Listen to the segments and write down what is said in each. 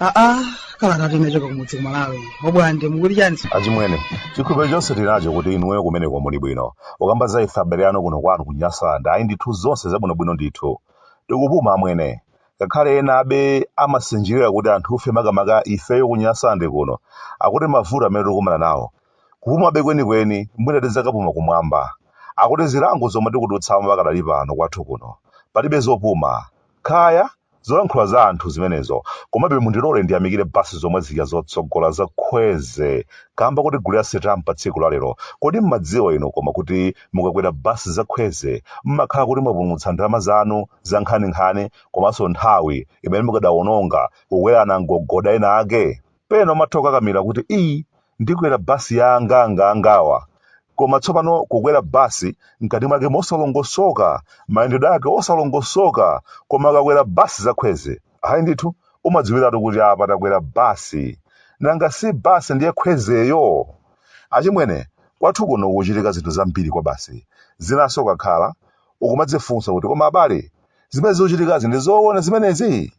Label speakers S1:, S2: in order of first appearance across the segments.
S1: aa kalatatu inachoka kumudzi kumalawi obwande mukuli chani achimwene chikhulupiriro chonse tinacho kuti inuyo kumeneko muli bwino ukamba za ife abale anu kuno kwathu ku nyasaland ayi ndithu zonse zabwinobwino ndithu tikupuma amwene Ngakhale enabe amasinjirira kuti anthufe makamaka ifeyo ku Nyasande kuno akuti mavuto amene tikukumana nawo, kupuma be kwenikweni mwina tidzakapuma kumwamba. Akuti zilango zomwe tikudutsamo pakadali pano kwathu kuno, palibe zopuma. Kaya, zolankhula za anthu zimenezo, komabe mundilole ndiyamikire bus zomwe zija zotsogola za Khweze kamba kotigulira sitampa tsiku la lero. Kodi mmadziwa inu koma kuti mukakwera bus za Khweze mmakhala kuti mwapumutsa ndalama zanu? zankhaninkhani komanso nthawi imene mukadawononga kukwera namgogoda ena ake pena umatha ukakamira kuti iyi ndikwera basi ya angaangaangawa koma tsopano kukwera basi mkati mwake mosalongosoka mayendedwe ake osalongosoka koma ukakwera basi za khweze ayi ndithu umadziwiratu kuti apa takwera basi nanga si basi ndiye khwezeyo achimwene kwathu kuno kuchitika zinthu zambiri kwa basi zinanso kakhala ukumadzifunsa kuti koma abale zimene zikuchitikazi ndi zoona zimenezi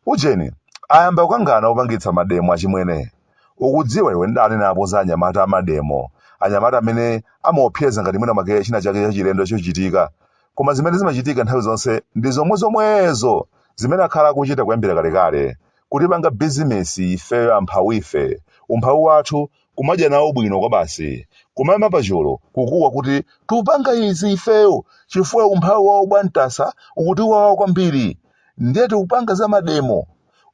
S1: ujeni ayamba ukangana opangitsa mademo achimwene ukudziwa iwe ndidanenapo za anyamata amademo anyamata amene amaopseza ngati mwina mwake china chake chachilendo chichitika koma zimene zimachitika nthawi zonse ndi zomwe zomwezo zimene akhala akuchita kuyambira kalekale kutipanga bizinesi ifeyo amphawife umphawi wathu kumadya nawo bwino kwabasi, kumayima pachulu kukuwa kuti tupanga izi ifeyo chifukwa umphawi wa obwantasa ukutiwawa kwambiri ndiye tikupanga za mademo.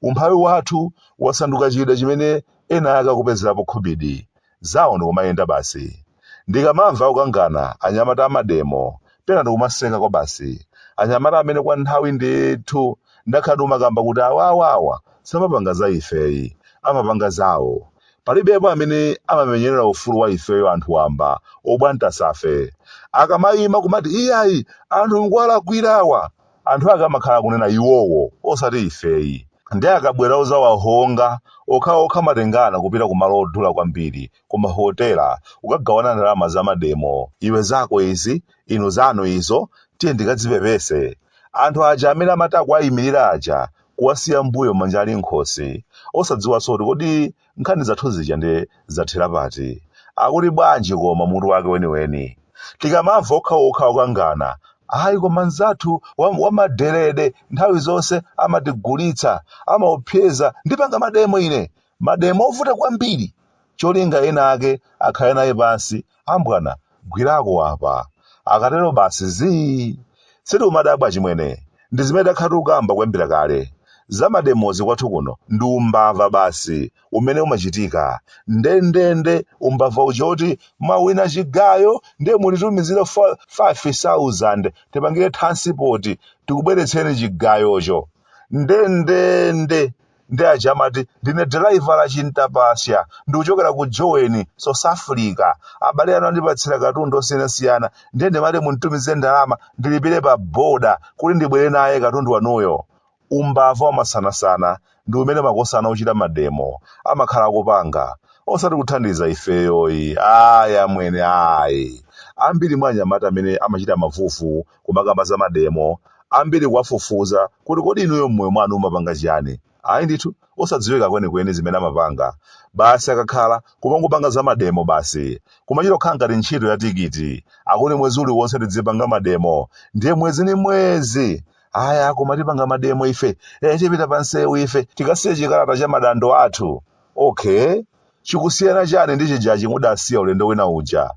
S1: Umphawi wathu wasanduka chida chimene ena ake akupezerapo khobidi. Zawo ndikumayenda basi. Ndikamamva akukangana anyamata amademo, pena ndikumaseka kwabasi. Anyamata amene kwa nthawi ndithu ndakhala ndikumakamba kuti awawa awa samapanga za ifeyi, amapanga zawo. palibe yemwe amene amamenyerera ufulu wa ifeyo anthu wamba obwantasafe akamayima kumati iyayi anthu mukuwalakwirawa anthu ake amakhala akunena iwowo osati ifeyi ndiye akabwera uzawahonga okhaokha amatengana kupita ku malo odula kwambiri ku mahotela ukagawana ndalama za mademo iwe zako izi inu zanu izo tiyeni tikadzipepese anthu aja amene amati akuwayimirira aja kuwasiya mbuyo manja ali nkhosi osadziwanso kuti kodi nkhani zathu zija ndiye zathera pati akuti bwanji koma mutu wake weniweni tikamamva okhaokha okangana ayi koma mnzathu wamadelede nthawi zonse amatigulitsa amaopseza ndipanga mademo ine mademo ovuta kwambiri cholinga ena ake akhale naye pansi Ambwana, gwirako apa. Akatero basi zii! Sitiumadabwa achimwene, ndi zimene takhala tikukamba kuyambira kale. Za mademozi kwathu kuno ndi umbava basi umene umachitika. Ndendende umbava uja woti mwawina chigayo ndiye mutitumizire 5 sauzande tipangire thansipoti tikubweretseni chigayocho. Ndendende! ndi aja amati ndine dalaiva wa chintapasya ndikuchokera ku Joni South Africa abale anu andipatsira katundu osiyanasiyana ndiye ndimati munditumize ndalama ndilipire pa boda kuti ndibwere naye katundu wanuyo umbava wamasanasana ndi umene makosana ochita mademo amakhala akupanga osati kuthandiza ifeyoyi ayi amwene ayi ambiri mwa anyamata amene amachita mavuvu kumakamba za mademo, ambiri kuwafufuza kuti kodi inuyo m'moyo mwanu mumapanga chiyani? Ayi ndithu, osadziwika kwenikweni zimene amapanga. Basi akakhala, kumangopanga za mademo basi. Kumachita kukhala ngati ntchito ya tikiti. Akuti mwezi uliwonse tidzipanga mademo. Ndiye mwezi ndi mwezi! Aya, koma tipanga mademo ife. Eh, tipita pa msewu ife. Tikasiye chikalata cha madandaulo athu. Okay. Chikusiyana chani ndi chijachi mudasiya ulendo wina uja?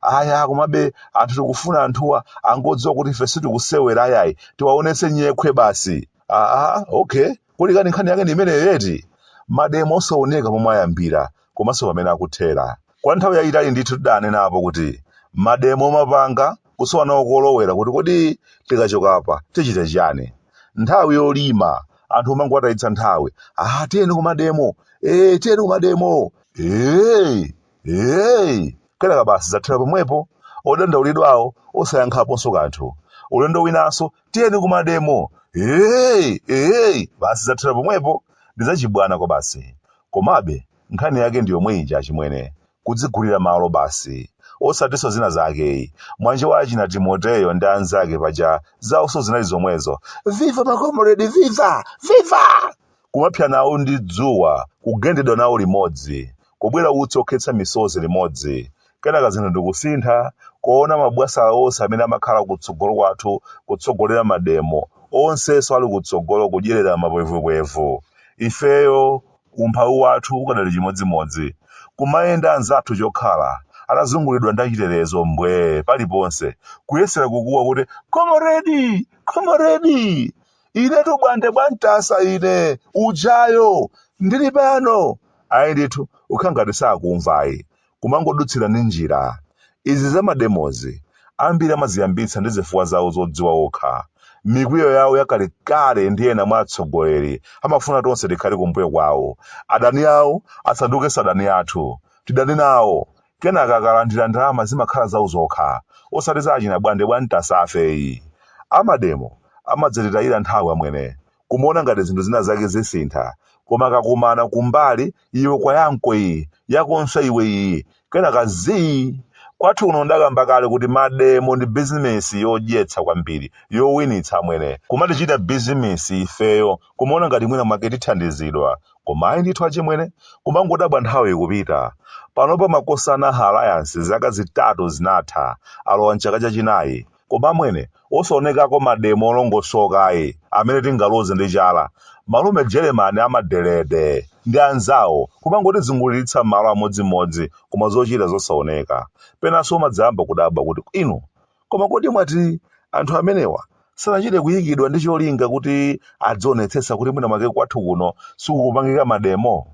S1: aya komabe fanthu tikufuna anthuwa angodziwa kuti ife sitikusewera ayayi tiwaonetse nyekhwe basi aa okay kodi kani nkhani yake ndi imeneyo eti mademo osaoneka pomwe ayambira komanso pamene akuthera kwa nthawi yayitali ndithu tidanenapo kuti mademo omapanga kusowa nawo kolowera kuti kodi tikachoka apa tichite chiyani nthawi yolima anthu omangowatayitsa nthawi ah tiyeni kumademo ee tiyeni kumademo ee Hey! Kenaka basi zathera pomwepo, odandaulidwawo osayankhaponso kanthu. Ulendo winanso, tiyeni kumademo! Hey! Hey! Basi zathera pomwepo, ndi zachibwana kwabasi. Komabe, nkhani yake ndi yomwe ija achimwene, kudzigulira malo basi. Osatinso zina zake ayi, mwanja wa achina Timoteyo ndi anzake paja zawonso zinali zomwezo. Viva makomuredi viva! Viva! Kumapsa nawo ndi dzuwa, kugendedwa nawo limodzi, kubwera utsi wokhetsa misozi limodzi. Kenaka zinthu ndi kusintha, kuona mabwasala onse amene amakhala kutsogolo kwathu kutsogolera mademo, onsenso ali kutsogolo kudyerera mapwevupwevu. Ifeyo, umphawi wathu ukadali chimodzimodzi. Kumayenda anzathu chokhala, atazunguliridwa ndi achitetezo mbwee paliponse, kuyesera kukuwa kuti, Comrade! Comrade! inetu bwande bwa Ntasa ine ujayo ndili pano ayi ndithu ukhala ngati sakumva ayi kumangodutsira ndi njira izi za mademozi ambiri amaziyambitsa ndi zifukwa zawo zodziwa okha mikwiyo yawo yakalekale ndi ena mwa atsogoleri amafuna tonse tikhale kumbuyo kwawo adani awo asandukenso adani athu tidane nawo Kenaka akalandira ndalama zimakhala zao zokha osati za achina Bwande bwa Ntasa afe ayi. A mademo amadzatitayira nthawi amwene. Kumaona ngati zinthu zina zake zisintha koma akakumana kumbali iwe kwa yako iyi, yakonso iwe iyi, kenaka zii! Kwathu kuno ndakamba kale kuti mademo ndi bizinesi yodyetsa kwambiri, yowinitsa amwene. Kumatichita bizinesi ifeyo. kumaona ngati mwina mwake tithandizidwa koma ayi ndithu achimwene kumangodabwa nthawi ikupita panopa makosana haha alliance zaka zitatu zinatha alowa mchaka chachinayi koma amwene osaonekako mademo olongosoka ayi amene tingaloze ndi chala malume jeremani amadelede ndi anzawo kumangotizunguliritsa m'malo amodzimodzi koma zochita zosaoneka penanso umadzayamba kudabwa kuti inu Koma kodi mwati anthu amenewa sanachite kuyikidwa ndi cholinga kuti adzionetsetsa kuti mwina mwake kwathu kuno sikukupangika mademo?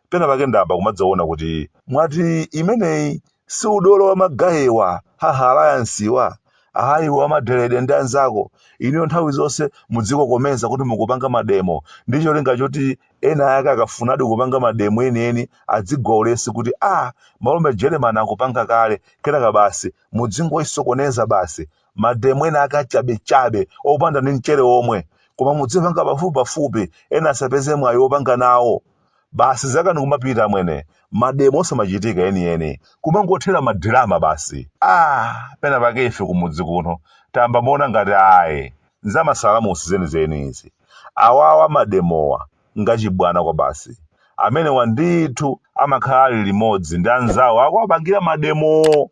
S1: Pena pake ndayamba kumadzaona kuti mwati imeneyi si udolo wa magayiwa, haha alliancewa, aha iwe wa madelede ndi anzako, inuyo nthawi zonse mudzikokomeza kuti mukupanga mademo ndi cholinga choti ena ake akafunadi kupanga mademo enieni adzigwa ulesi kuti ah malume Jeremani akupanga kale, kenaka basi mudzingoisokoneza basi mademo ena ake achabechabe opanda ndi mchere omwe koma mudzipanga pafupipafupi ena asapeze mwayi wopanga nawo basi zaka nkumapita amwene mademo osamachitika enieni kumangothera madirama basi ah pena pake ife kumudzi kuno tayamba maona ngati ayi nzamasalamusi zenizeni izi awawa mademowa ngachibwana kwabasi. Amenewa ndithu amakhala ali limodzi ndi anzawo akuwapangira mademowo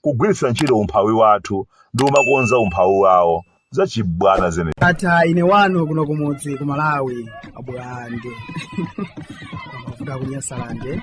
S1: kugwiritsa ntchito umphawi wathu ndi kumakonza umphawi wawo. Zachibwana zenizeni. Ndatha ine wanu kuno kumudzi ku Malawi abulande. kuvuka ku Nyasalande.